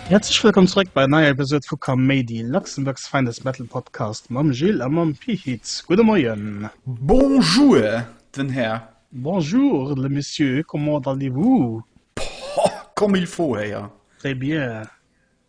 Häerzlech wëllkomm zréck bei neier Episode vu Kaméidi, Luxembourg's Finest Metal Podcast mam Gilles a mam Pit. Gudde Moien! Bonjour, den Här! Bonjour, le Monsieur, comment allez-vous? Comme il faut, Här! Très bien!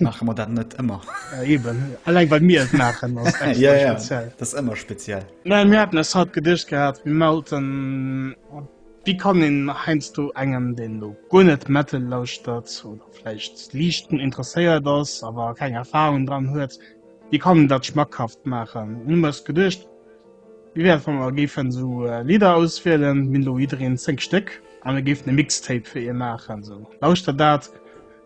Maache mer dat net ëmmer? Ja, eben. Alleng well mir et maachen, ass et extra speziell. Ja, ja, dat ass ëmmer speziell. Mä mir haten eis haut geduecht gehat, mir melten, wéi kann een heiansdo engem, deen elo guer net Metal lauschtert oder vläicht liicht drun interesséiert ass, awer keng Erfarung dran huet, wéi kann een dat schmackhaft maachen? Hu mir eis geduecht, wéi wär et, wa mer géifen esou Lidder auswielen, mir hunn elo jiddereen zéng Stéck, a mir géifen e Mixtape fir ee maachen. Esou, lauschtert dat.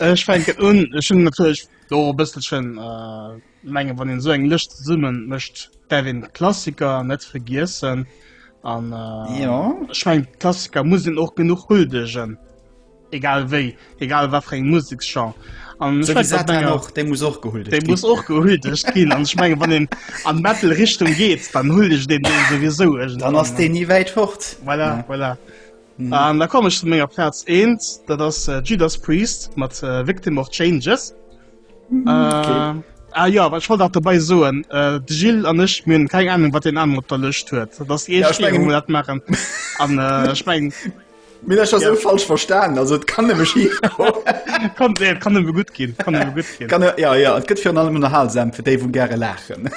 Ech fänken un. Ech hunn natierlech do e bësselchen, ech mengen, wann een esou eng Lëscht zesumme mécht, däerf een d'Klassiker net vergiessen. An ech mengen, d'Klassiker muss een och genuch huldegen, egal wéi, egal wat fir eng Museksgenre. An ech mengen, dat mengen och, déi muss och gehuldegt ginn. Déi muss och gehuldegt ginn. An ech mengen, wann een an d'Metal-Richtung geet, dann huldegt een déi souwisou iergendwann. Dann ass deen ni wäit fort. Voilà, voilà. Mhm. An da komme ech zu menger Platz 1, dat ass äh, Judas Priest mat äh, Victim of Changes. Mhm, okay. äh, Ah ja, wat wollt dat dabei soen äh, de Gil an ech myn keng Ahnung wat den an op der Lëcht huet dat ja, ich mein, dat machen an äh, ich mein, Mir ja. so falsch verstanden also kann kann, nee, kann er gut gehen kann, er gut gehen. kann er, ja ja gibt für allem unterhaltsam für Dave gerne lachen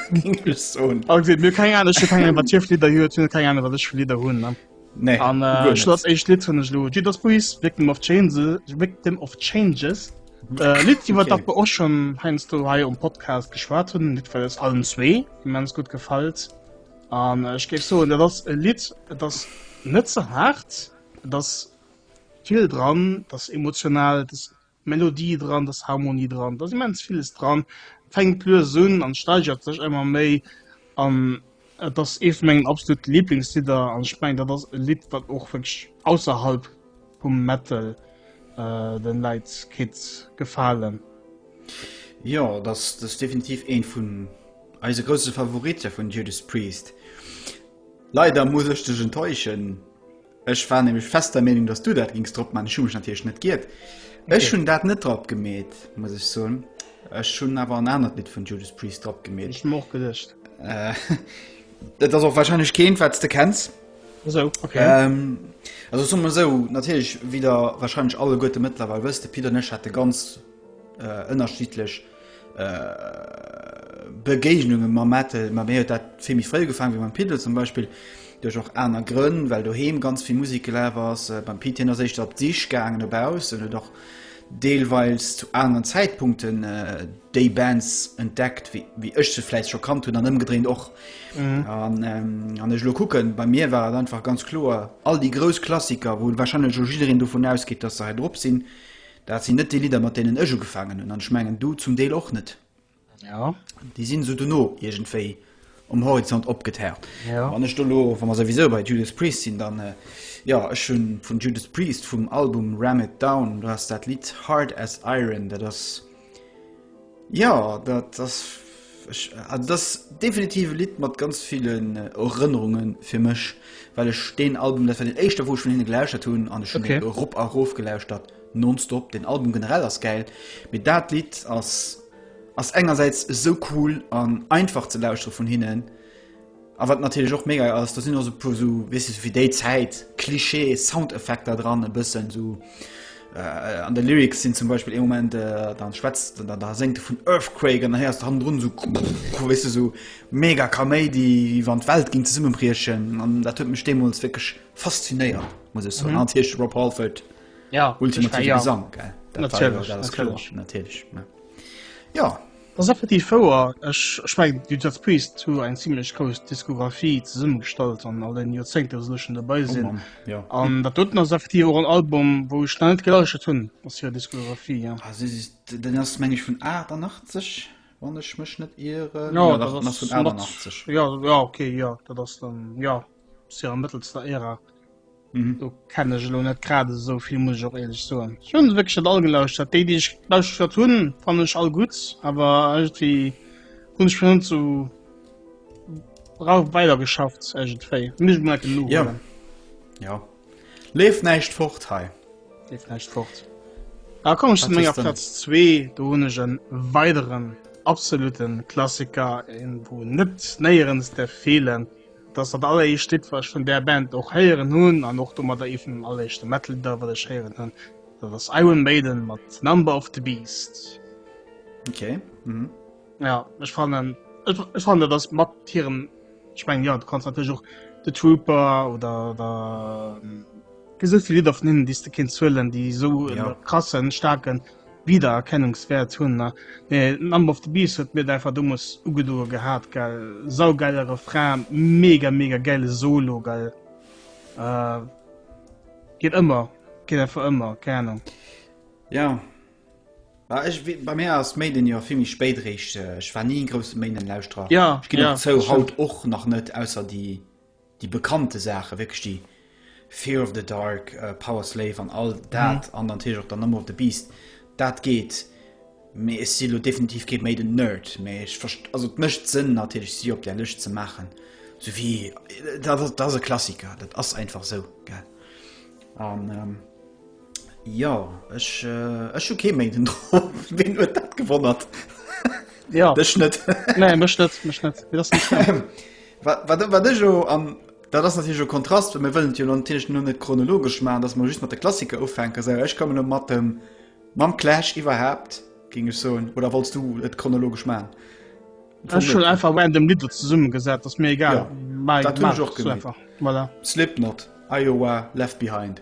so. okay, mir keine Ahnung, keine Ahnung, was ich Lieder hun Nee, an äh, ich lass echt Lied von Lo Judas Priest Victim of Changes Victim of Changes äh, Lied okay. über das wir auch schon Heinz du hier im Podcast geschwärzt haben nicht weil es allen zwei wie man es gut gefällt an äh, ich gebe so das Lied das nicht so hart das viel dran das emotional das Melodie dran, et ass Harmonie dran, et ass immens villes dran. Et fänkt lues un an steigert sech ëmmer méi an et ass ee vu mengen absolut Lieblingslidder an ech mengen dat ass e Lidd wat och wierklech ausserhalb vum Metal den Leit kéint gefalen. Jo et ass definitiv een vun eise grousse Favorite vun Judas Priest. Leider muss ech dech enttäuschen. Ech war nämlech fest der Meenung, dass du dat gings drop man. Ech hun mech natierlech net giert. Ech hun dat net drop gemeet, muss ech soen. Ech hun awer en anert Lidd vun Judas Priest drop gemeet. Ech hun och gedecht. Dat ass och wahrscheinlech keent, wat s de kenns. Esou, okay. Also soe mer esou, natierlech, wéi der wahrscheinlech alleguerte mëttlerweil wësst, de Pit an ech hate ganz ënnerschiddlech Begéignunge mam Metal, ma mir huet dat vill méi fréi ugefaangen, wéi mam Pit elo zum Beispill, duerch och aner Grënn, well doheem ganz vill Musek gelaf ass. Beim Pit, hien ass éischter op d'Sich gaangen no baussen, huet och deelweils zu aneren Zäitpunkten déi Bands entdeckt, wéi ech se vläicht scho kannt hunn, an ëmgedréint och. Wann ech elo kucken, bei mir war et einfach ganz kloer, all déi grouss Klassiker, wou wahrscheinlech elo jiddereen dovun ausgeet, datt se hei drop sinn, Dat sinn net déi Lidder, mat deenen ech ugefaangen hunn, an ech mengen du zum Deel och net. Jo. Déi sinn esou dono iergendwéi um Horizont opgetaucht. Jo. Wann ech do elo, wa mer souwisou bei Judas Priest sinn, dann, jo, ech hu vun Judas Priest vum Album Ram It Down, do ass dat Lidd Hard As Iron, dat ass, Ja dat ass also dat ass definitiv e Lidd mat ganz villen äh, Erënnerunge fir mech, well ech deen Album dat war den éischter wou ech vun hinne gelauschtert hunn an ech hunn okay. Rob a Rof gelauschtert nonstop. Den Album generell ass geil, mit dat Lied ass ass engersäits esou cool an einfach ze lauschtere vun hinnen. A wat natierlech och mega ass, do sinn och sou e puer sou, weess de, sou fir déi Zäit, Klischee-Soundeffekter dran, e bëssen sou. An de Lyrics sinn zum Beispill ee Moment, da schwätzt en, da séngt e vun Earthquake an da héiers de hannendrun sou, weess de, sou mega Kaméidi, wéi wann d'Welt géing zesummebriechen. An dat huet mech deemools wierklech faszinéiert, muss ech soen. An natierlech de Rob Halford, ultimative Gesang, gell, dat war jo, dat ass kloer, natierlech, jo. Dat ass effektiv wouer. Ech mengen de Judas Priest hu eng zimlech grouss Diskografie zesumme gestallt an all den Joerzéngte wou se elo schonn dobei sinn. An dat doten ass effektiv och en Album wou ech nach net gelauschtert hunn aus hirer Diskografie. Den ass meng ech vun 88 wann ech mech net ieren. Jo dat ass vun 88. Jo ok jo dat ass dann jo. Tja, mëttelster Ära. Mhm. Do kenne ech elo net grad esou vill, muss ech och ehrlech soen. Ech hunn wierklech net all gelauschtert. Déi, déi ech gelauschtert hunn, fannen ech all gutt, awer irgendwie hunn ech schon zu ra weider geschafft irgendwéi. Muss ich mal genug Ja. holen. Ja. Leef näischt fort hei. Leef näischt fort. Da komme ich zu Was menger ist denn? Platz 2. Do hunn ech en weideren absoluten Klassiker, een wou net néierens därf feelen. Dass dat alleréischt Lidd wat ech vun där Band och héieren hunn an och domadder ee vun den alleréischte Metal-Lidder wat ech héieren hunn, dat ass Iron Maiden mat Number of the Beast. Ok. Mhm. Ja, ech fannen ech fannen dat ass mat hirem ech mengen ja du kanns natierlech och The Trooper oder der ähm, esou vill Lidder vun hinnen déi s de kéints huelen, déi esou ja. krassen, staarken Wiedererkennungswert hun na nee Number of the Beast huet mir et einfach domols ugedoe gehaat gell saugeile Refrain mega mega geile Solo gell geet ëmmer geet einfach ëmmer keng Ahnung. Jo bah ech wéi bei mir ass Maiden jo vill méi spéit réischt ech war ni en grousse Maiden Lauschterer ech ginn och zou haut och nach net ausser déi. déi bekannte Saachen, wierklech déi Fear of the Dark, Power Slave an all dat an natierlech och dann Number of the Beast, dat geet. Mee ech si lo definitiv kee Maiden Nerd, mee ech verst-, also et mécht Sënn natierlech si op där Lëscht ze maachen, sou wéi, dat ass e Klassiker, dat ass einfach esou, gell. An. Jo ech ech hu kee méint den Dr ween huet dat gewonnert Jo dech net Nee mech net mech net wat ech jo an dat ass jo Kontrast mé wëllen jo an Tisch no net chronologesch ma dats man just mat de Klassiker ufänke se ech komme no mat dem mam Clash iwwerhaapt ging ech soen oder wannst du et chronologesch ma schon einfach wenn dem Li zesummen gesat dats mir egal ja, Slipknot Iowa left behind.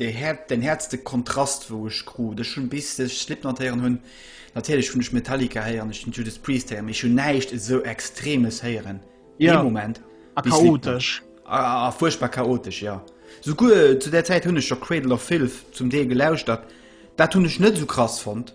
Den häertste Kontrast wou ech krut, ech hunn bis ech Slipknot héieren hunn, natierlech hunn ech Metallica héieren, ech hunn Judas Priest héieren, mee ech hunn näischt esou Extremes héieren dee Moment wéi Slipknot. A fuerchtbar chaotesch, jo. Souguer zu där Zäit hunn ech scho Cradle of Filth zum Deel gelauschtert, dat hunn ech net esou krass fonnt.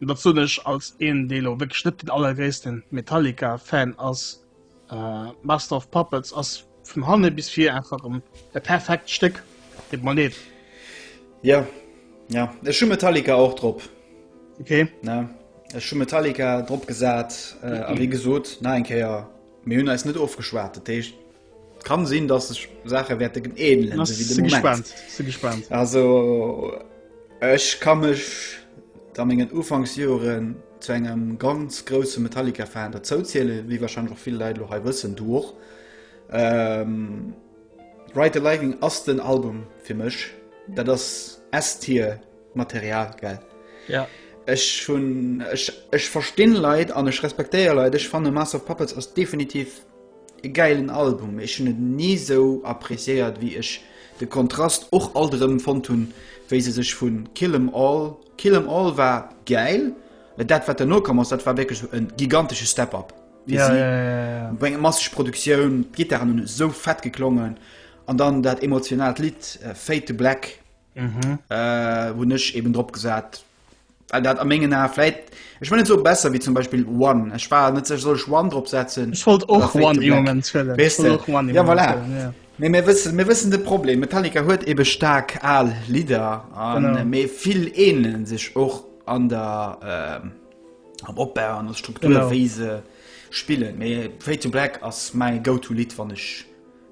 Dat soen ech als een dee lo wierklech net den allergréissten Metallica Fan ass. Master of Puppets ass vun hanne bis vir einfach en e perfekt Stéck. Deet mer leed. Jo, jo, ech hu Metallica och drop. Ok. Ne, ech hu Metallica drop gesat, a wéi gesot, nach eng Kéier, mir hunn eis net ofgeschwat, dat heescht, Kann sinn dass sech Sache wäerte gen eelen Na, wéi de si Moment. gespannt, si gespannt. Also ech ka mech da mengen Ufanksjoren zu engem ganz grousse Metallica-Fan derzou zielen, wéi wahrscheinlech och vill Leit lo hei wëssen, du och. Ähm, Ride the Lightning ass den Album fir mech, dat ass S-Tier Material, gell? Ja. Ech hunn, ech, ech verstinn Leit an ech respektéier Leit, ech fanne Master of Puppets ass definitiv, E gäilen Album, ech hunn et ni sou appreciéiert wéi ech de Kontrast och alt erëm fonnt hunn wéi se sech vun Kill 'em All, Kill 'em All war gäil, mä dat wat derno komm ass dat war wierklech e gigantesche Step up fir si, wéi eng masseg Produktioun, d'Gittaren hunn esou fett geklongen an dann dat emotionaalt Lidd Fade to Black. hunn ech eben drop gesat, well dat a mengen Ae vläit, ech wëll net soe besser wéi zum Beispill One, ech war net sécher, soll ech One drop setzen? Ech wollt och One ee Moment huelen. Weess de, jo voilà. Mee mir wëssen, mir wëssen de Problem, Metallica huet ebe staark al Lidder, mee vill ähnele sech och an der, am Opbau, an der Struktur wéi se spillen. Mee Fade to Black ass mäi Go-to Lidd wann ech.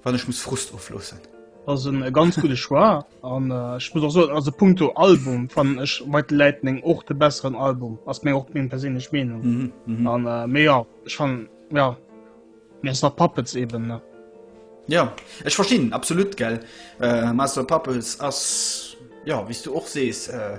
wann ech muss Frust ofloossen. Ass en ganz gudde Choix an ech muss och soen also punkto Album fannen ech White Lightning och de besseren Album, ass meng och meng perséinlech Meenung an mhm, mhm. äh, mé ja ech fannen ja mé ass nach Puppets eben ne. Ja ech verstinn absolut gell äh, Master Puppets ass ja wéis du och sees. Äh,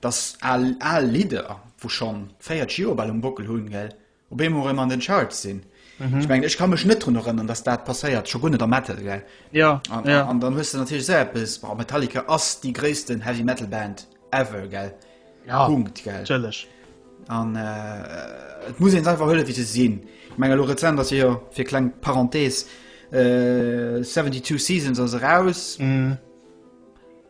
Dass al al Lidder, wou schon 40 Joer bal um Bockel hun, gell, op eemol erem an den Charts sin. Ech mengen, ech ka mech net drun erënnern, dass dat passéiert, scho guer net am Metal, gell. An dann hues de natierlech esou eppes, Wow, Metallica ass déi gréissten Heavy Metal Band ever, gell. Punkt, gell. An et muss een se einfach huelen, wéi se sin. Ech mengen, elo rezent ass jo, fir kleng Parenthese, 72 Seasons ass eraus.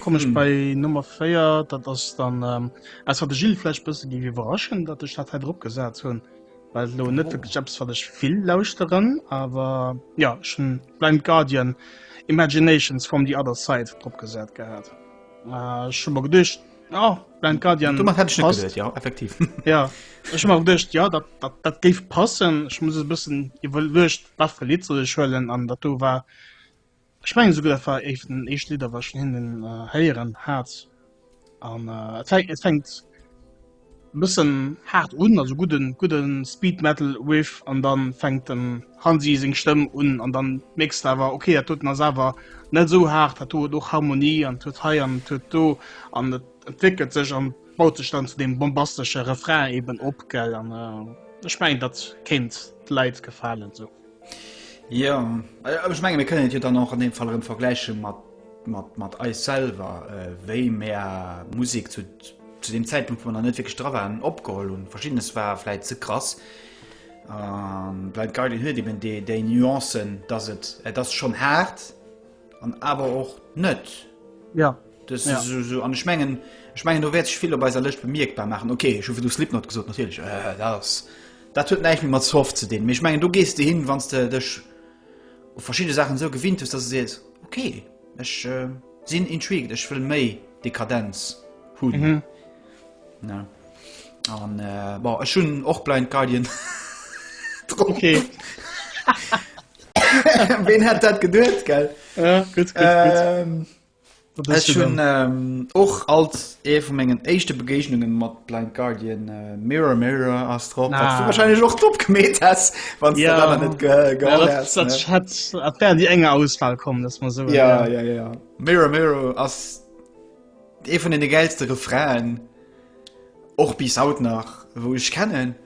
Komm ech bei Nummer 4, dat ass dann ass wat de Gilles vläch bësse giff iwwerraschen, datt ech dat hei drop gesat hunn, well et elo net wierklech eppes wat ech vill lauschteren. Awer jo, ech hunn Blind Guardian, Imaginations from the Other Side drop gesat gehat. Ech hu mer geduecht, jo, Blind Guardian, Domat hätt ech net passt. geduecht, jo, effektiv. Jo, ech hu mer geduecht, jo, dat, dat, dat géif passen. Ech muss e bëssen iwwerluecht, wat fir Lidd soll ech huelen, an dat do war Ech mengen souguer dat war éif den éischt Lidder wat ech vun hinnen héieren hat an et fänkt et fänkt bëssen haart un, also gudden gudden Speed Metal Riff an dann fänkt den Hansi seng Stëmm un an dann mierks de awer ok dat doten ass awer net esou haart, dat do huet och Harmonie an et huet hei an et huet do an et entwéckelt sech an baut sech dann zu deem bombastesche Refrain eben op gell an ech mengen dat kéint de Leit gefalen esou. Jo, awer ech menge mir kënnen et jo dann och an deem Fall erëm vergläiche mat mat mat eis selwer, wéi mär Musek zu zu deem Zäitpunkt, wou mer nach net wierklech dra waren, opgeholl hunn. Verschiddenes war vläit ze krass. An Blind Guardian huet eben déi déi Nuancen, dass et et ass schonn haart an awer och net. Jo. Dës Ja. esou esou an ech mengen ech mengen do wäert sech vill op eiser Lëscht bemierkbar maachen. Ok, ech hu virdu Slipknot gesot natierlech, dat ass Dat huet näischt méi mat Soft ze dinn, mee ech mengen do gees de hin, wann s de dech u verschidde Saachen esou gewinnt hues, dass de sees, ok, ech sinn intrigued, ech wëll méi Dekadenz hunn. Ne? An bon, ech hunn och Blind Guardian drop. Okay. Ween hätt dat geduet, gell? Ja, gutt, gutt, gutt. Ähm, Ech hunn och alt ee vu mengen éischte Begéignungen mat Blind Guardian Mirror Mirror ass drop, wat du wahrscheinlech och drop gemeet häss, wann s de dat nach net geholl häss, ne? Dat hätt, dat wär an déi enger Auswahl komm, dass mer soen. Ja, ja, ja, ja. Mirror Mirror ass ee vun deene gäilste Refrainen, och bis haut nach, wou ech kennen.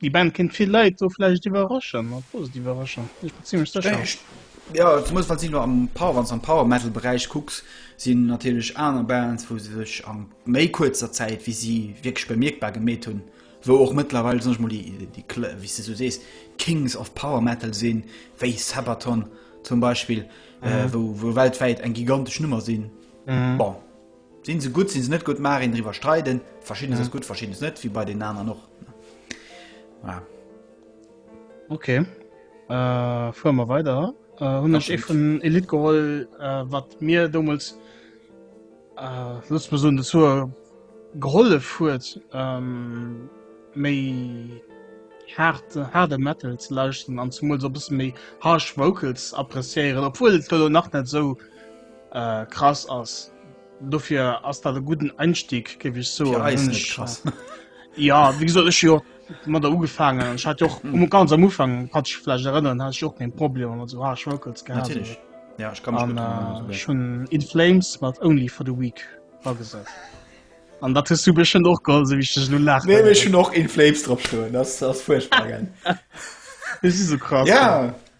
Déi Band kéint vill Leit do vläicht iwwerraschen, a positiv iwwerraschen. Ech bin zimlech sécher. Ech, ja, zemools wat si lo am Power, wann s am Power-Metal-Beräich kucks, sinn natierlech aner Bands, wou se sech a méi kuerzer Zäit wéi si wierklech bemierkbar gemeet hunn, wou och mëttlerweil, soen ech mol, déi, déi Kl, wéi s de esou sees, d'Kings of Power Metal sinn, wéi Sabaton zum Beispill, wou, wou weltwäit eng gigantesch Nummer sinn. Bon. Sinn se gutt, sinn se net gutt, mag een driwwer streiden. Verschiddenes ass gutt, verschiddenes net, wéi bei den aneren och. Voilà. Okay. Äh, fueren mer weider. Äh, hunn ech ee vun Elite geholl, äh, wat mir dommels äh, lust mer soen, de Zuer gehollef huet, ähm, méi hart, harde Metal ze lauschten an zumools op bësse méi harsh Vocals appréciéieren, obwuel et elo nach net esou. krass ass dofir ass dat e gudden Einstieg géif ech so ja wie soll ech jo mat der ugefangen hat jo um mhm. ganz am Ufang hat ich vielleicht erinnern hat ich auch den Problem oder so ah, schwkels ja ich kann an, äh, schon in flames mat only for the week war gesagt an dat du beschen och go wie ich nun nach nee, ich noch in flames drauf stehen. das das furchtbar das ist so krass ja, ja.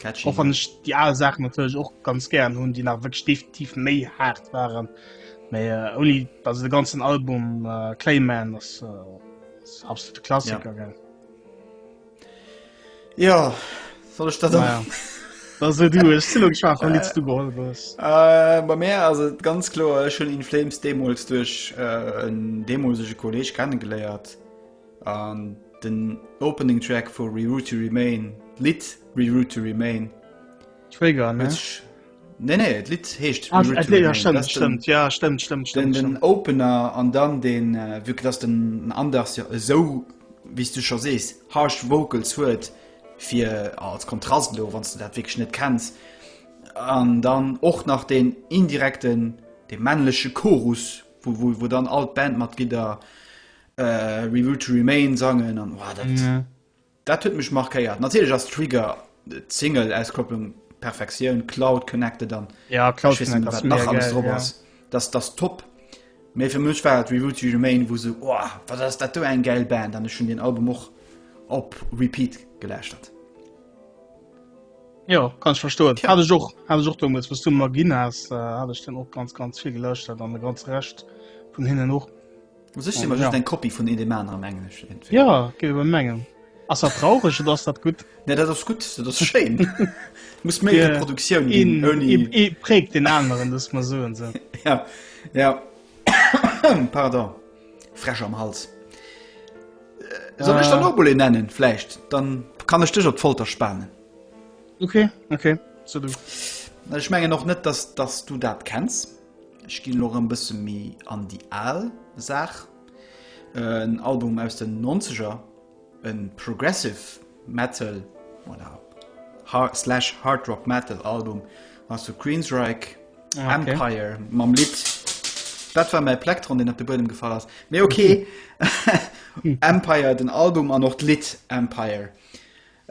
Catchy. Och wann ech die aal Saachen natierlech och ganz gären hunn, déi nach wëg definitiv méi haart waren. Mei äh, oni dat de ganzen Album äh, Clayman ass äh, absolute Klassiker ja. Ja soll ech dat. Ja. Also du schwa äh, du geholt was. Äh, bei Meer as et ganz klo schon in Flames Demos duch äh, en demosche Kolleg kennengeléiert. An den Opening Track vu Reroute to Remain, d'Lidd Reroute to Remain. Trigger, ne? Nee, nee, et Lied heescht ah, Reroute to Remain. Ja, stimmt, stimmt, ja, stimmt, stimmt, stimmt. Den, den Opener an dann den, äh, wirklich, dass den Anders ja so, wie du schon sees, harsh Vocals huet, fir als Kontrast lo, wann du dat wirklich net kennst. An dann och nach den indirekten, de männliche Chorus, wo, wo, wo dann all d'Bandmatglieder äh, We Will to Remain sangen an wow, dat, ja. dat huet mech markéiert. Natielech ass Trigger d'Single Auskopplung Perfektioun, Cloud connected an ja, Cloud nach alles drop ass. Ja. Das das top. Mee fir mech war et We Will to Remain, wo se oh, wat ass dat do eng geil Band, an ech hun den Album och op Repeat geläuscht hat. Ja kann ich verstoen ja. habe ich auch habe ich auch damals was du Magin hast äh, habe ich dann auch ganz ganz viel gelöscht dann eine ganz recht von hinnen hoch Muss ech immer just eng Kopie vun een dem aner am Englesche entweder. Ja, ginn ebe mengen. Ass dat traureg oder ass dat gutt? Nee, dat ass gutt, dat ass schéin. Muss méi Reproduktioun ginn, ouni. Een, ee prägt den aneren, dass mer soen se. Ja, ja. Pardon, Fräsch am Hals. Soll ech der nach emol een nennen vläicht? Dann kann ech dech op d'Folter spanen. Okay, okay, so du. Ech mengen och net, dass, dass du dat kenns. Ech ginn elo rëm bësse méi an déi al Saach. En Album aus den Nonzeger, e Progressive Metal oder slash Hard Rock Metal Album ass vu Queensryche, ah, okay. Empire mam Lidd. Dat war mäi Plektron, den op de Buedem gefall ass. Mee okay. Empire den Album an och d'Lidd Empire.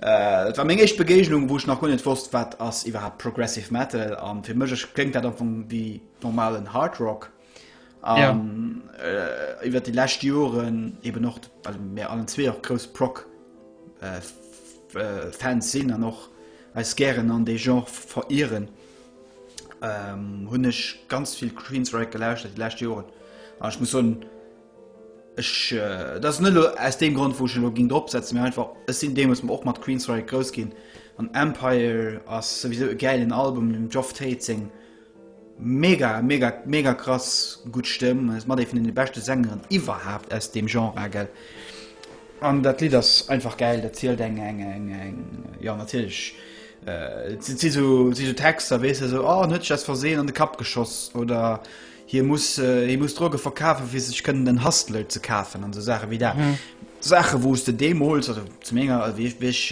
Et war meng éischt Begéignung, wou ech nach guer net wosst, wat ass iwwerhaapt Progressive Metal. An fir mech kléngt dat am Fong wéi normalen Hard Rock. An iwwert déi lescht Joren eben och, well mir allen zwee och grouss Prog Fans sinn an och eis gären an dee Genre verieren, hunn ech ganz vill Queensrÿche gelauschtert déi lescht Joren. An ech muss soen, Ech, et ass net elo aus deem Grond wou ech elo ging drop setzen, mee einfach ech sinn deemools och mat Queensryche grouss ginn an Empire ass souwisou e gäilen Album, dem Geoff Tate seng mega mega mega krass gutt Stëmm an ass mat ee vun deene beschte Sängeren iwwerhaapt aus deem Genre agel an dat Lidd ass einfach gäil, dat zielt eng eng eng eng jo natierlech et si si sou si sou Texter weess de sou, oh en huet sech eppes verseen an de Kapp geschoss oder Hie muss, hie muss Droge verkafen, fir sech kënnen en Hustle ze kafen an esou Saache wéi dat. Saache wou s de deemools, also zu menger, wéi ech, wéi ech,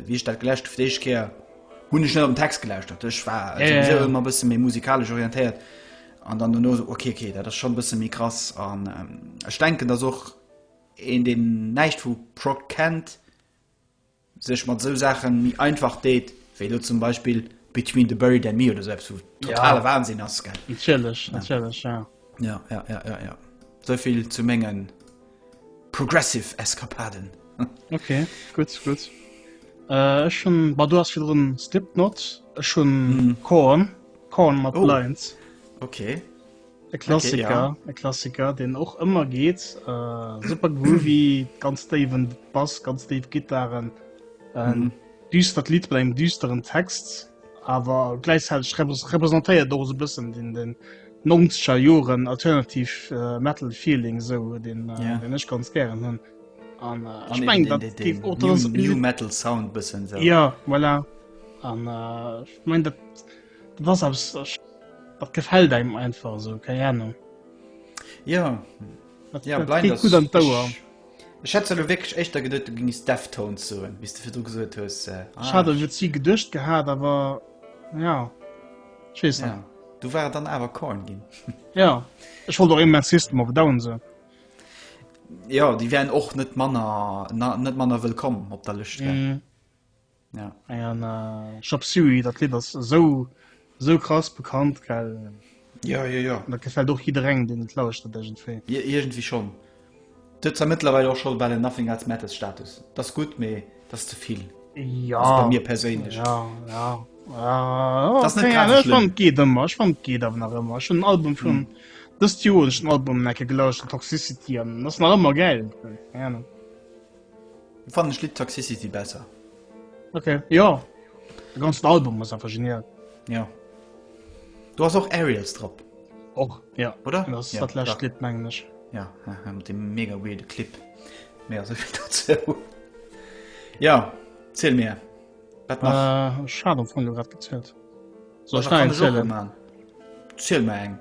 wéi ech dat geläscht fir d'éischt Kéier, hunn ech net op den Text gelauschtert. Ech war souwisou ëmmer e bësse méi musikalesch orientéiert an dann duerno esou, ok, ok, dat ass schonn e bësse méi krass. An ech denken, datt och een, deen näischt vu Prog kennt, sech mat esou Saachen méi einfach deet, wéi elo zum Beispill Between the Buried and Me oder esou eppes, wou totale Wahnsinn ass, gell? Natierlech, natierlech, ja. Ja, ja, ja, ja, ja. Esou vill zu menge progressive Eskapaden. Ok, gutt, gutt. Ech hunn, bah, du ass virdrun Slipknot, ech hunn Korn, Korn mat Blind. Ok. E Klassiker, okay, ja. e Klassiker, den och ëmmer geet. Äh, super groovy, ganz déiwen Bass, ganz déif Gittaren. Ähm, mhm. Düstert Lied bei engem düsteren Text, awer gläichzäiteg repräsentéiert do se bëssen den den nonscher Joren alternativ äh, Metal Feeling sou den äh, yeah. ech ganz gern hunn. An äh, ech meng dat geet o Metal Sound bëssen. So. Ja, voilà. An äh, ich mein dat Dat ass eppes, dat gefält engem einfach esou, keng Ahnung. Jo, jo, Blind ass gutt. Ech hätt zwar wierklech éischter geduet, du géings Deftones soen, wéi s de virdru gesot hues. Ech hat et si geduecht gehat, awer jo, ech weess net. Du war et dann awer Korn ginn. Jo, ech wollt och immens System of a Down soen. Jo, déi wären och net manner wëllkomm op der Lëscht. Ja an Chop Suey dat Lidd ass esou esou krass bekannt gell. Jo jo jo. Dat gefält och jidderengem deen et lauschtert iergendwéi. Jo iergendwéi schonn. Dat huet zwar mëttlerweil och scho bal en Nothing Else Matters Status. Dat ass gutt mee dat ass ze vill. Jo bei mir perséinlech. Jo jo dat ass net grad schlëmm. Et geet ëmmer ech fannen et geet awer nach ëmmer. Ech hunn den Album vun dëst Joer hunn ech den Album en Ecke gelauscht den Toxicity an dat ass nach ëmmer gäil. Keng Ahnung. Fannen d'Lidd Toxicity besser. Ok, jo. De ganzen Album ass einfach genial. Jo. Do ass och Aerials drop. Och, jo. Oder? Dat ass ja, dat lescht Lidd, mengen ech. Ja, mat dem mega weirde Clip. Mé ass ech dat zou. Ja, zill mir. Wat nach? Äh, Schad am Fong, du grad gezählt. Soll ech nach eng zielen? Ziel mir eng.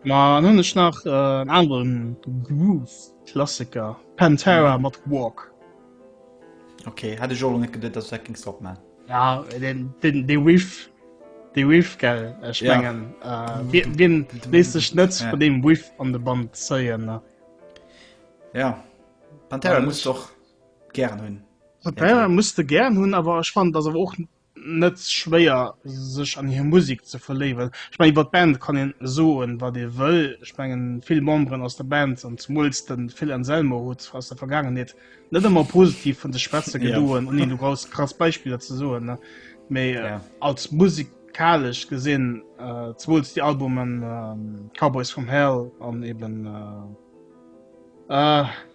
Ma an hunn ech nach en aneren Groove-Klassiker, Pantera mat Walk. Ok, hat ech och lo net geduet dass du dat géings dropman. Ja dee Riff, dee Riff gell, ech mengen wien léisst sech net vun deem Riff an de Bann zéien ne. Ja Pantera muss ech och gären hunn. Pantera muss de gären hunn, awer ech fannen et ass awer och net schwéier sech an hir Musik ze verléiwen. Ech mengen iwwer d'Band kann een soen wat ee wëll, ech mengen vill Memberen aus der Band an zemools de Phil Anselmo huet aus der Vergaangenheet net ëmmer positiv vun sech schwätze gedoen, ouni elo grouss krass Beispiller ze soen, mee als musikalesch gesinn, zemools déi Albumen Cowboys From Hell an eben.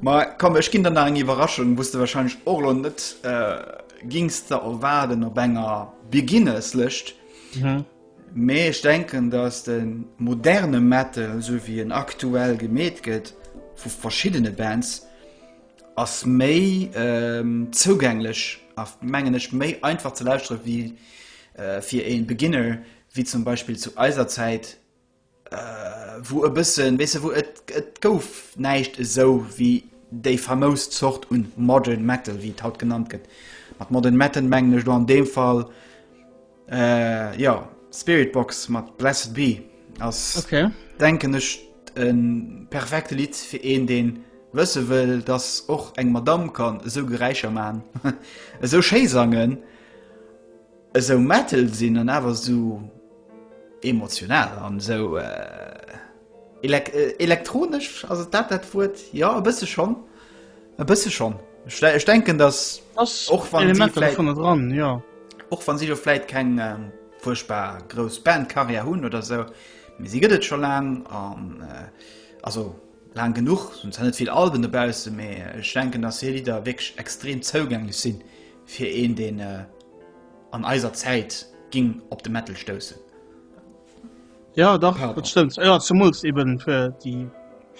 Ma komm, ech ginn der nach eng Iwwerraschung, wou s de wahrscheinlech och elo net äh, gings der erwaarden op enger Beginnerslëscht. Mhm. Mee ech denken, dass de moderne Metal, esou wéi en aktuell gemeet gëtt vu verschiddene Bands, ass méi ähm, zougänglech a mengen ech méi einfach ze lauschtere wéi äh, fir ee Beginner, wéi zum Beispill zu eiser Zäit, wou e bëssen, weess de, wou et, et gouf näischt esou wéi déi famous Zort un Modern Metal, wéi et haut genannt gëtt. Mat Modern Metal mengen ech elo an deem Fall, jo, Spiritbox mat Blessed Be ass, denken ech, e perfekte Lidd fir een, dee wësse wëll, dass och eng Madamm kann esou Geräischer maachen, esou schéi sangen. Esou metal sinn an awer esou emotional an esou elektronesch, ass et dat dat Wuert? Jo e bësse schonn, e bësse schonn. Ech denken dass och wann si vläit, och wann si elo vläit keng fuerchtbar grouss Bandcarrière hunn oder esou, mee si gëtt et scho laang an also laang genuch, se hunn zwar net vill Alben dobaussen, mee ech denken dass hir Lidder wierklech extrem zougänglech si Fir een deen an eiser Zäit ging op de Metal stoussen. Jo dach dat stëmmt, jo zemools eben fir déi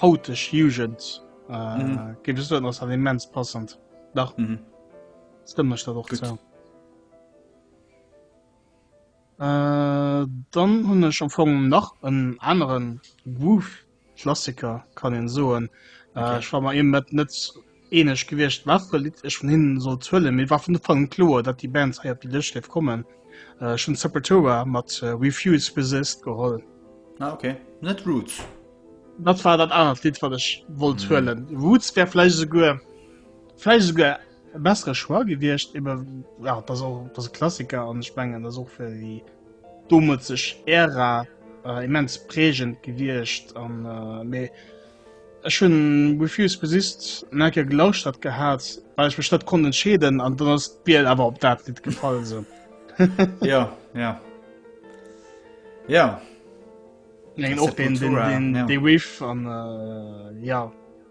hauteg Jugend géif ech soen ass dat immens passend, dach stëmmt mech dat och zou. Dann hunn ech am Fong nach en anere Groove-Klassiker, kann een soen. Ech war mer eben net net eeneg gewiescht, wat fir e Lidd ech vun hinnen sollt huelen, mee et war vun Ufank un kloer, datt déi Band hei op déi Lëscht géif kommen. Ech hunn Sepultura mat Refuse, Resist geholl. Ah, ok. Net Roots? Dat war dat anert Lidd, wat ech wollt huelen. Roots wär vläicht esouguer, vläicht esouguer E bessere Choix gewiescht, eben, ja, dat ass och, dat ass e Klassiker an ech mengen, dat ass och fir déi domodzeg Ära äh, immens prägend gewiescht. An, äh, mee ech hunn With You Is Resist en eng Kéier gelauschtert gehat, well ech mech net konnt entscheeden an dann ass d'Biel awer op dat Lidd gefall so. ja, ja. Ja. Mengen och den, den, den, ja. den Riff an, äh, ja.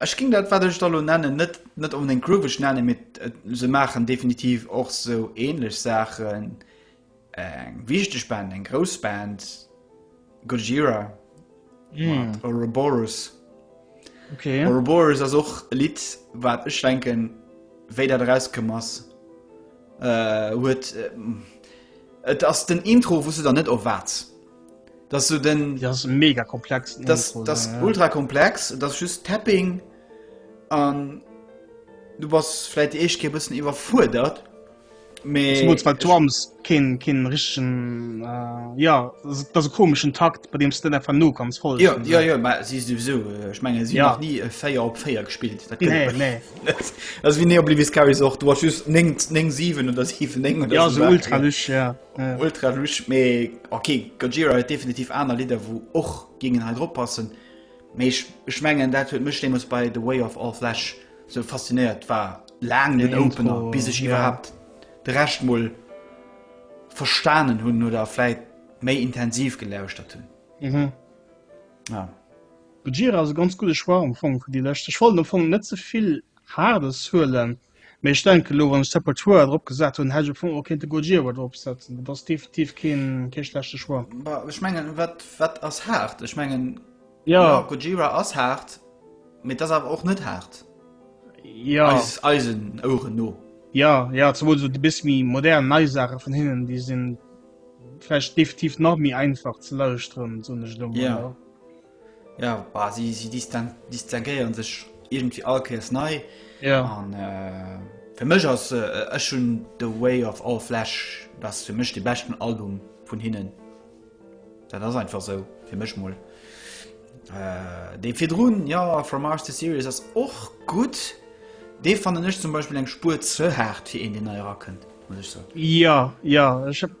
Ech ging dat wat ech da lo nennen net net onbedéngt grooveg nennen, mee se maachen definitiv och sou ähnlech Saachen. Eng wichteg Band, eng grouss Band, Gojira mat mm. Ouroboros. Okay. Ouroboros ass och e Lied wat ech denken wéi dat rauskëm ass äh, huet äh, et ass den Intro wusste der net of wat. Das so den ja, das mega komplex das, Intro, das ja. ultra komplex das just tapping an du was vielleicht ich ge bisschen überfordert drums kind kind richtigen äh, ja das komischen takt bei dem stand einfach nur ganz voll ja, ja, ja, ja, sie sowieso äh, ich meine sie ja. nie äh, feier op feier gespielt nee, nee. also wie ne oblivis auch du hast just 7 oder 7 ja, so ultra nicht, ja. Äh. Ultra lusch, mee ok, Gojira huet definitiv aner Lidder wou och géingen hei drop passen, mee ech ech mengen dat huet mech deemools bei The Way of All Flesh sou faszinéiert, war laang den Opener bis ech iwwerhaapt de Rescht mol verstanen hunn oder vläit méi intensiv gelauschtert hunn. Mhm. Ja. Gojira ass e ganz gudde Choix am Fong fir déi lescht, ech wollt am Fong net ze vill Haardes huelen. Mee ech denken elo, wann ech Sepultura drop gesat hunn, hätt ech am Fong och kéinte Gojira drop setzen. Dat ass definitiv keen, kee schlechte Choix. Bah, ech mengen, wat, wat ass haart? Ech mengen, ja, ja Gojira ass haart, mee et ass awer och net haart. Ja. Eis, eisen Oueren no. Ja, ja, zemools esou déi bis méi modern, nei Saache vun hinnen, déi sinn vläicht definitiv nach méi einfach ze lauschteren, soen ech elo emol. Ja. Jo, bah, si, si distinguéieren sech irgendwie all Kéiers nei. Ja. An äh, fir mech ass äh, ech hunn The Way of All Flesh, dat ass fir mech de beschten Album vun hinnen. Dat ass einfach so, fir mech mol. Äh, dee virdrun, ja, From Mars to Sirius ass och gut. Dee fannen ech zum Beispiel eng Spur ze hart, fir een, deen nei erakënnt, muss ech soen. Ja, ja, ech hab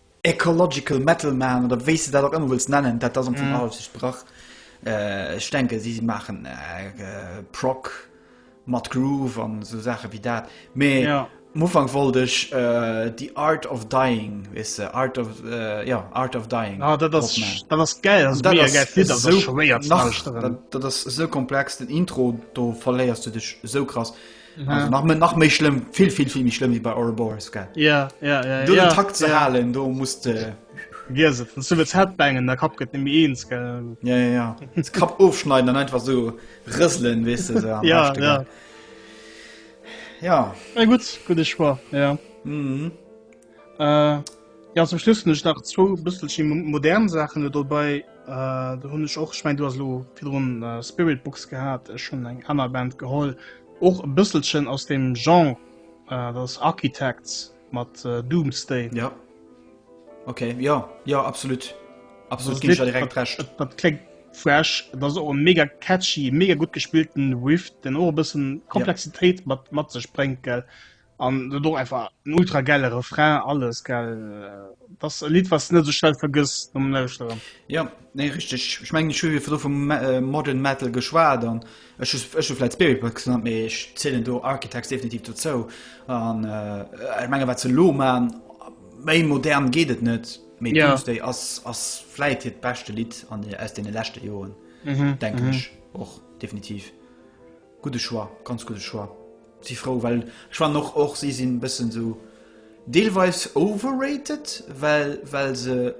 Ecological Metal Man oder wéis de dat och ëmmer wëlls nennen, dat ass am Fong alles just brach. Ech denke si maachen Prog mat Groove an esou Saache wéi dat. Mee am Ufank wollt ech The Art of Dying, weess de, Art of, jo, Art of Dying. Ah, dat ass, dat ass gäil, dat ass mega gäil. Dat ass, dat ass esou schwéier ze lauscheren. Dat ass esou komplex, den Intro, do verléiers du dech esou krass. Also nach, nach méi schlimm vill vill vill méi schlimm wie bei Ouroboros ge yeah, yeah, yeah, du yeah, Takt ze yeah. halen do musst äh, Headbangen der Kap gëtt mi eens Kap ofschneiden an einfach so rëselen wis weißt du, ja, ja. ja. ja gut gut ich war ja. mm -hmm. Äh, ja, zum Schluss hun ech nach zwou bësselche modern Sachen do bei. Äh, do hunn ech och ich mein, du as lo virun äh, Spirit Books gehabt, ech hun eng aner Band geholl. Och e bësselchen aus dem Genre äh, das Architects mat äh, Doomsday. Ja. Okay, ja, ja, absolut. Absolut ginn ech dir direkt recht. Dat, dat klingt fresh, dat och en mega catchy, mega gut gespielten Riff, den och e bëssen Komplexitéit ja. mat mat sech bréngt gell. An dat och einfach en ultra geile Refrain alles gell das Lied was net so schnell vergiss um Lauschteren. Ja nee richtig ich meng Schüler vu vum modern Metal geschwa dann Ech ech vielleicht Spirit Box an méi ech zielelen do Architects definitiv dozou an äh, menge wat ze lo man méi modern geht et net méi ja. Doomsday ass ass fleit hiet bestechte Lied an aus den lächte Joen mhm. denken mhm. och definitiv. Gudde Choix, ganz gudde Choix. Si frou well ech fannen och och si sinn bëssen sou deelweis overrated well well se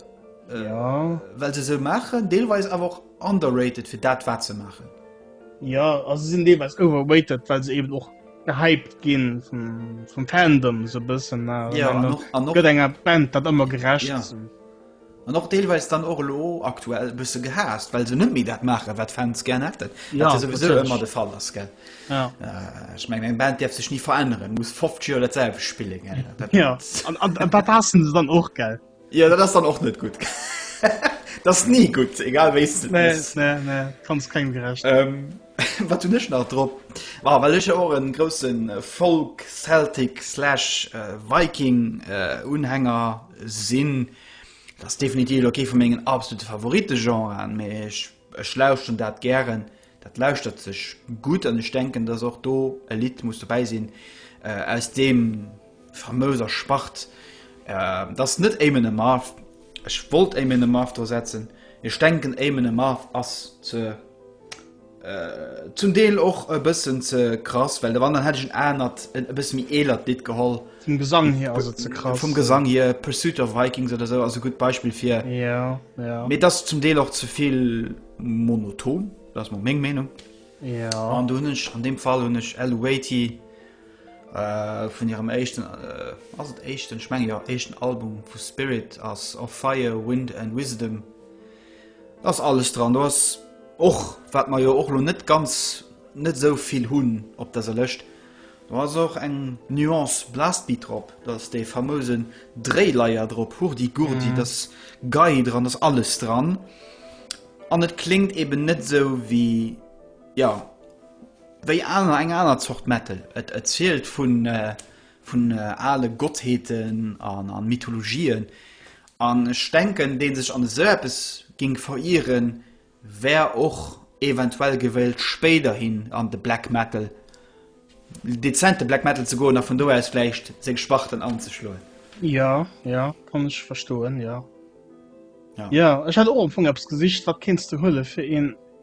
ja well se sou maachen deelweis awer och underrated fir dat wat se maachen. Ja also se sinn deelweis overrated well se eben och gehypt ginn vum vum Fandom sou bëssen ja an och an och gëtt enger Band dat ëmmer gerecht ja. An och deelweis dann och elo aktuell e bësse gehaasst, well se net méi dat maachen, wat d'Fans gären hätten. Ja, wat jo souwisou natierlech. ëmmer de Fall ass. Gell? Ja. Äh, ech mengen, eng Band däerf sech ni veränneren, muss 50 Joer dat selwecht spillen. Gell? Dat, Ja, an, an, an dat haassen se dann och, gell? ja, dat ass dann och net gutt. dat ass ni gutt, egal wéi s du Nee, es. nee, nee, kannst kengem gerecht. Ähm, Wat hunn ech nach drop? Bon, well ech jo och e grousse Folk-, Celtic slash Viking-Unhänger sinn, dat ass definitiv elo kee vu mengen absolute Favoritegenren, mee ech lauschteren dat gären, dat lauschtert sech gutt an ech denken, dass och do e Lidd muss dobäi sinn aus deem. Famös a Spart. Et ass net Eamon Amarth. Ech wollt Eamon Amarth dra setzen. Ech denken, Eamon Amarth ass ze, zum Deel och e bëssen ze krass, well wann, dann hätt ech en anert, e bësse méi eelert Lidd geholl. Vum Gesang hier ass et ze krass. Vum Gesang hier, Pursuit of Vikings oder esou ass e gutt Beispill fir. Jo, jo. Mee et ass zum Deel och ze vill monoton. Dat ass mol meng Meenung. Jo. An do hunn ech, an deem Fall hunn ech L. Waity vun hirem éischten, ass et éischten? Ech menge jo, éischten Album vu Spirit ass Of Fire, Wind and Wisdom. Da ass alles dran. Do ass och, wat mer jo och elo net ganz, net esou vill hunn op dëser Lëscht, do ass och eng Nuance Blastbeat drop, do ass dee famouse Dréileier drop, Hurdy-Gurdy, da ass Gei dran, da ass alles dran. An et kléngt eben net esou wéi, jo. Wéi aner, eng aner Zort Metal. Et erzielt vun ale Gottheeten an Mythologien. An ech denken, dee sech an esou eppes géing verieren, wär och eventuell gewëllt spéiderhin an de Black Metal, dezente Black Metal ze goen a vun do aus vläicht seng Sparten anzeschloen. Jo, jo, kann ech verstoen, jo. Jo, ech hat och am Fong eppes gesicht, wat kéints du huelen, fir een.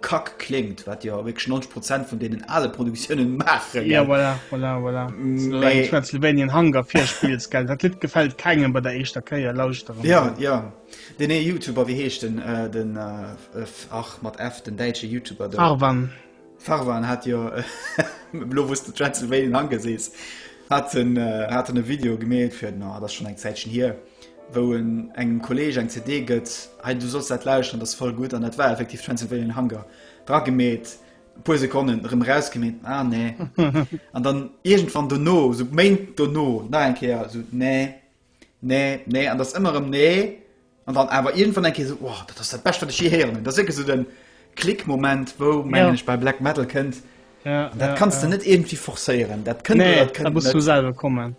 Kack kléngt, wat jo wierklech 90 Prozent vun deenen ale Produktiounen maachen. Ja, voilà, voilà, voilà. Mee. Transylvanian Hunger virspills, gell? Dat Lidd gefält kengem bei der éischter Kéier lauschteren. Ja, ja. Deen ee Youtuber, wéi heescht en? Den, ach, mat F, den däitsche Youtuber do. Farwan. Farwan hat jo, elo wou s de Transylvanian Hunger sees, hat en, hat en e Video gemeet fir, no, dat ass schonn eng Zäitchen hier. wou en engem Kolleg eng CD gëtt, hei du solls dat lauschteren, dat ass voll gutt, an dat war effektiv Transylvanian Hunger, dra gemeet, e puer Sekonnen, erëm eraus gemeet, ah nee, an dann iergendwann dono, sou Méint dono, nach eng Kéier, sou nee, nee, nee, an dat ass ëmmer erëm nee, an dann awer iergendwann eng Kéier sou, wow, dat ass dat Bescht, wat ech jee héieren hunn, dat ass wierklech sou den Klick-Moment, wou, mengen ech, bei Black Metal kënnt, an dat kanns de net iergendwéi forcéieren, dat kënnt oder dat kënnt net. Nee, dat muss vun selwer kommen.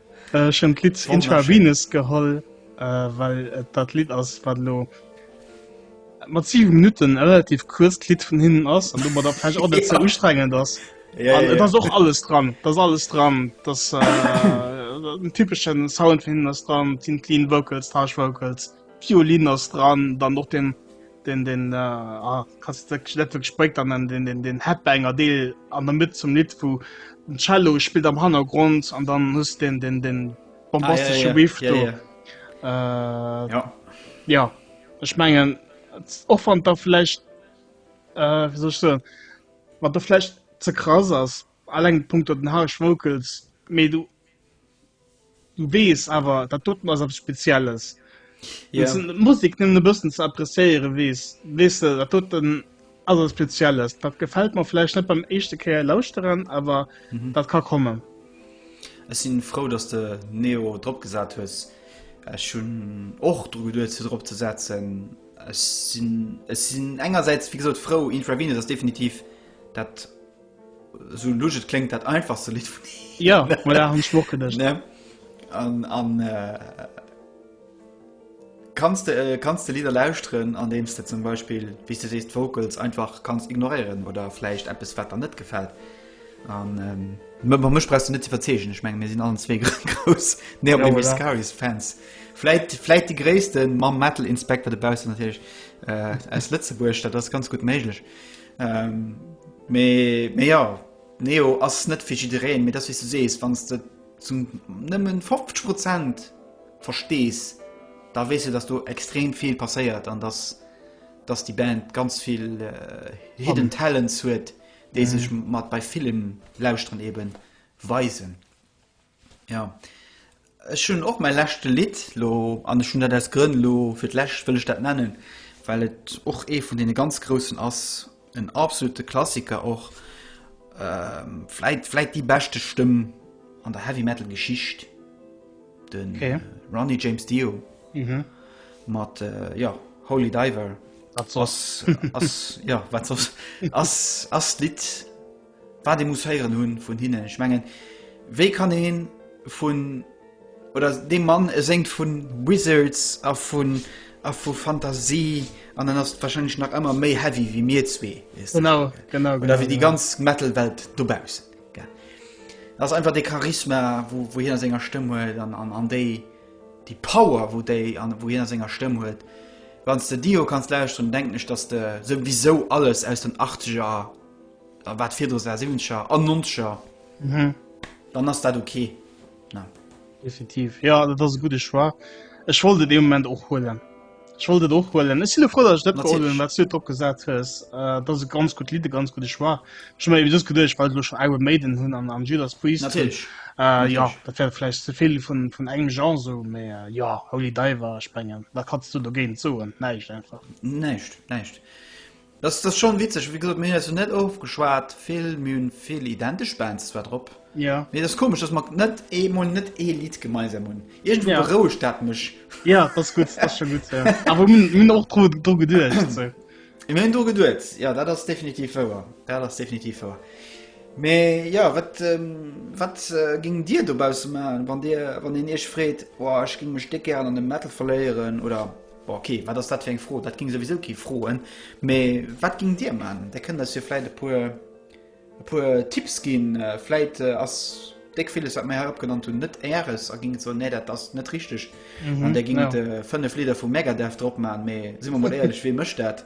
Ech hunn d'Lidd Intravenous geholl, well et dat Lidd ass, wat elo mat 7 Minutten e relativ kuerzt Lidd vun hinnen ass an domadder vläicht och net ze ustrengend ass. An et ass och alles dran, et ass alles dran, et ass den typesche Sound vun hinnen ass dran, et sinn d'Lead Vocals, d'Harsh Vocals, d'Violin ass dran, dann och den. den den ah, kannst net wirklich spréckt an den den den Headbanger Deel an der Mitte zum Lied wo den Cello spielt am Hannergrund an dann muss den den den bombastische ah, ja, ja, Riff ja, ja. Äh, ja. ja ich mengen och van da vielleicht äh, wie so wat der vielleicht ze krass ass allg Punkt den Harsch Vocals me du Du wees awer dat doten ass abs spezielles yeah. Musik nëmmen e bëssen ze appréciéiere wees wees se dat doten ass abs spezielles dat gefällt man flecht net beim echte Käier lauschteren awer mhm. dat ka kommen Ech sinn frou dats de Neo drop gesat hues Ech hun och dru geduet ze drop ze setzen Ech sinn ech sinn engerseits wie gesot frou Infravine ass definitiv dat Sou lusch et kléngt, dat einfachste Lidd vun him. Ja, voilà, hun ech mir och gedacht. Ne? An, an äh, kannst du, äh, kannst du Lieder lauschteren, an deems du zum Beispiel, wéi du sees, d'Vocals einfach kannst ignorieren oder vläicht eppes, wat der net gefällt. An ähm, mé- mé- mech brauchst du net ze verzeegen, ech meng, mir sinn allen zwee grouss Neo Ja, Baby voilà. Scaries Fans. Vläicht, vläicht die gréissten mam Metal Inspector dobaussen natierlech äh, aus Lëtzebuerg, dat ass ganz gutt méiglech. Ähm, mee, mee ja, Neo ass net fir jiddereen, mee dat wéi du sees, wann du zum nëmmen 50 Prozent verstees, da wees du, dass do extrem vill passéiert an dass, dass die Band ganz vill äh, Hidden Talents huet, déi mhm. sech mat bei Filmen lauschteren eben weisen. Jo, ech hunn och mäi leschte Lidd lo, an ech hunn dat aus Grënn lo fir d'lescht wëll ech dat nennen, well et och ee vun deene ganz groussen ass, en absolute Klassiker och, vläit vläit déi beschte Stëmm an der Heavy Metal Geschicht, de Ronnie James Dio mat jo Holy Diver, ass ass jo wat soss, ass ass d'Lidd. Wat ee muss héieren hu vun hinnen. Ech mengen, wéi kann ee vun, oder dee Mann, e séngt vu Wizards a vun, a vu Fantasie, an en ass warscheinlech nach ëmmer méi heavy wéi mir zwee, weess de, oder wéi déi ganz Metal-Welt dobaussen. Et ass einfach dee Charisma, wou hien a senger Stëmm huet, an déi Power, wou hien a senger Stëmm huet. Wann s de Dio kanns lauschteren, denken ech, dass de souwisou alles aus den Achtzeger. A wat virdru war, siwwenzeger an nonzeger, dann ass dat ok. Definitiv, jo, dat ass e gudde Choix. Ech wollt et ee Moment och huelen. Ech wollt et och huelen. Ech si lo frou, datt ech dat geholl hunn, wat s du et drop gesat hues. Dat ass e ganz gutt Lidd, e ganz gudde Choix. Ech hu mer eben just geduecht, well ech elo schonn Iron Maiden hunn an an Judas Priest. Natierlech. Jo, dat wär vläicht ze vill vun engem Genre sou, mee jo, Holy Diver, ech mengen, wat kanns du dogéint soen? Näischt einfach. Näischt, näischt. Dass dass schon witzeg, wéi gesot mir hunn eis jo net ofgeschwat vill, mir hunn vill identesch Bands zwar drop, jo mee dass komesch dass mer net ee mol net ee Lidd gemeinsam hunn, iergendwou jo berouegt dat mech. Jo dass gutt, dass scho gutt, jo awer mir hunn och dru dru geduecht sou. Jo mir hunn dru geduet, jo dat ass definitiv wouer, dat ass definitiv wouer, mee jo wat wat géingt dir dobausse maachen, wann dir wann een iech freet, oh ech géing mech déck gären an de Metal verléieren oder. Bon, ok, wat ass dat fir eng Fro? Dat ging souwisou kee froen. Mee wat ging dir man? Der kënnt eis jo vläit e puer e puer Tipps ginn. Vläit ass déck villes, wat mer hei opgenannt hunn, net Äres a ging et soen, nee, dat ass net richteg. An der ging et fënnef Lidder vu Megadeth drop man. Mee si mer mol éierlech, wee mécht dat?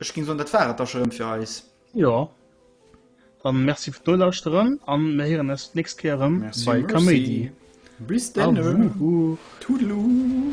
Ech ging soen dat war et da scho rem fir eis. Jo, dann merci fir d'Nolauschteren an mir héieren eis d'nächst Kéier erem bei Kaméidi. Bis dann, Toodaloo!